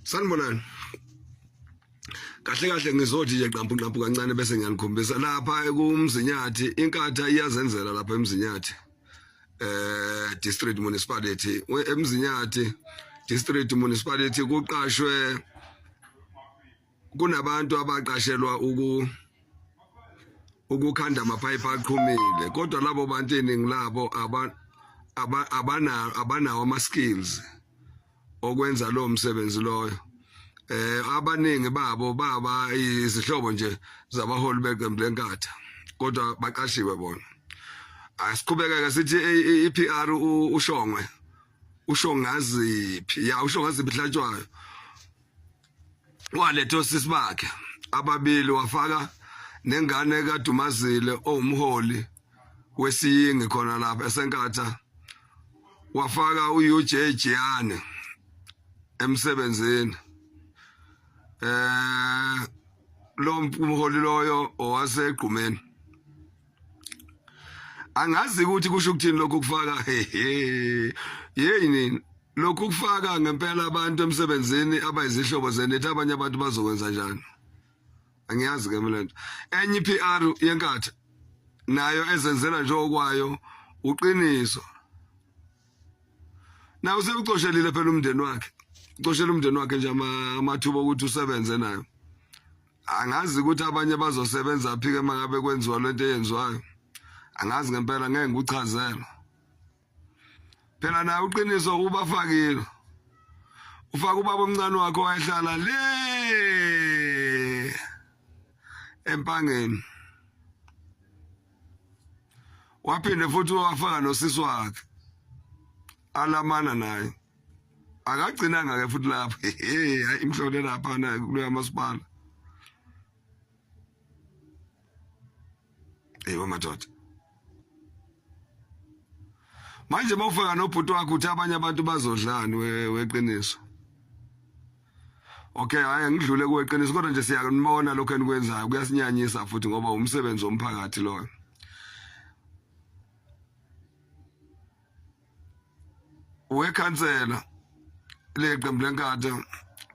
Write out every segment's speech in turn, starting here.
sanibonani kahle kahle ngizothi nje qampu qampu kancane bese ngiyanikhombisa lapha ekumzinyathi inkatha iyazenzela lapha emzinyathi eh district municipality emzinyathi district municipality kuqashwe kunabantu abaqashelwa uku ukukhanda amaphayiphi aqhumile kodwa labo bantu iningi labo abanawo abanawo ama-skills okwenza lowo msebenzi loyo eh abaningi babo baba izihlobo nje zabaholi beqembu lenkatha kodwa baqashiwe bona asiqhubekeke sithi i-PR ushongwe ushongaziphi ya ushongaziphi hlatshwayo waletha osisi bakhe ababili wafaka nengane kadumazile owumholi wesiyingi khona lapha esenkatha wafaka uUJ Jiyane emsebenzini eh lo mholi loyo owasegqumeni angazi ukuthi kusho ukuthini lokhu kufaka yeyi nini lokhu kufaka ngempela abantu emsebenzini abayizihlobo zenethi abanye abantu bazokwenza njani angiyazi ke mina lento enye iPR yenkathi nayo ezenzela nje okwayo uqiniso na usekucoshelile phela umndeni wakhe ucoshela umndeni wakhe nje amathuba ukuthi usebenze nayo angazi ukuthi abanye bazosebenza phi ke mangabe kwenziwa lento eyenziwayo angazi ngempela ngeke ngikuchazela phela naye uqiniso ubafakile ufaka ubaba omncane wakho wayehlala le empangeni waphinde futhi wafaka nosisi wakhe alamana naye akagcinanga ke futhi lapho hey imhlole lapha na kuloya masipala hey wamadoda manje bawufaka nobhuti wakho uthi abanye abantu bazodlani weqiniso okay hayi ngidlule kuweqiniso kodwa nje siyakunibona lokho enikwenzayo kuyasinyanyisa futhi ngoba umsebenzi womphakathi loyo wekhansela leqembu lenkatha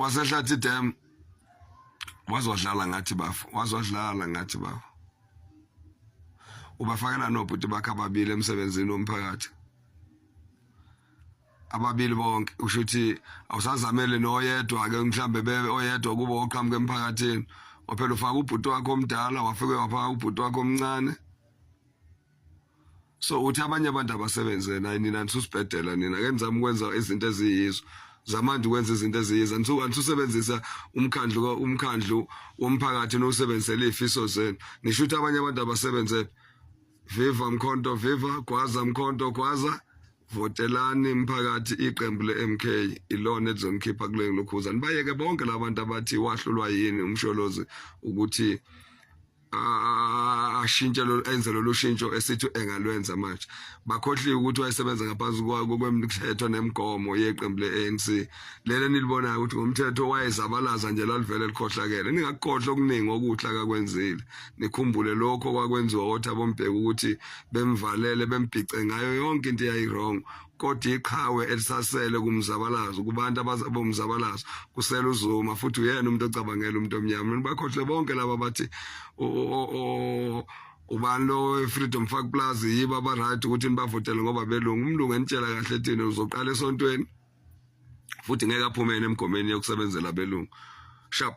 wasehlathi dam wazodlala ngathi bafo wazodlala ngathi bafo ubafakela nobhuti bakhe ababili emsebenzini womphakathi ababili bonke usho ukuthi awusazamele noyedwa-ke mhlawumbe bebe oyedwa kubo oqhamuka emphakathini waphela ufaka ubhuti wakho omdala wafike wafaka ubhuti wakho omncane so uthi abanye abantu abasebenze naye nina nisusibhedela nina ke nizama ukwenza izinto eziyizo zamanje ukwenza izinto eziyizo anisubenzisa umkhandlu umkhandlu womphakathi nowusebenzisela ifiso zenu nisho ukuthi abanye abantu abasebenze viva mkhonto viva gwaza mkhonto gwaza votelani mphakathi iqembu le-mk ilona elizonikhipha kule lokhuza nibayeke bonke labantu abathi wahlulwa yini umsholozi ukuthi ashintshe enze lolu shintsho esithi engalwenza manje bakhohliwe ukuthi wayesebenza ngaphansi kwemthetho nemigomo yeqembu le-anc lele nilibonayo ukuthi ngomthetho wayezabalaza nje lalivele likhohlakele ningakukhohlwa okuningi okuhle akakwenzile nikhumbule lokho kwakwenziwa othi abombheki ukuthi bemvalele bembhice ngayo yonke into eyayirong kodwa iqhawe elisasele kumzabalazo kubantu abazabe umzabalazo kusela uzuma futhi uyena umuntu ocabangela umuntu omnyama nibakhohle bonke laba bathi ubani lo freedom fak plus yiba aba right ukuthi nibavotele ngoba belungu umlungu enitshela kahle thina uzoqala esontweni futhi ngeke aphumene emgomeni yokusebenzela belungu sharp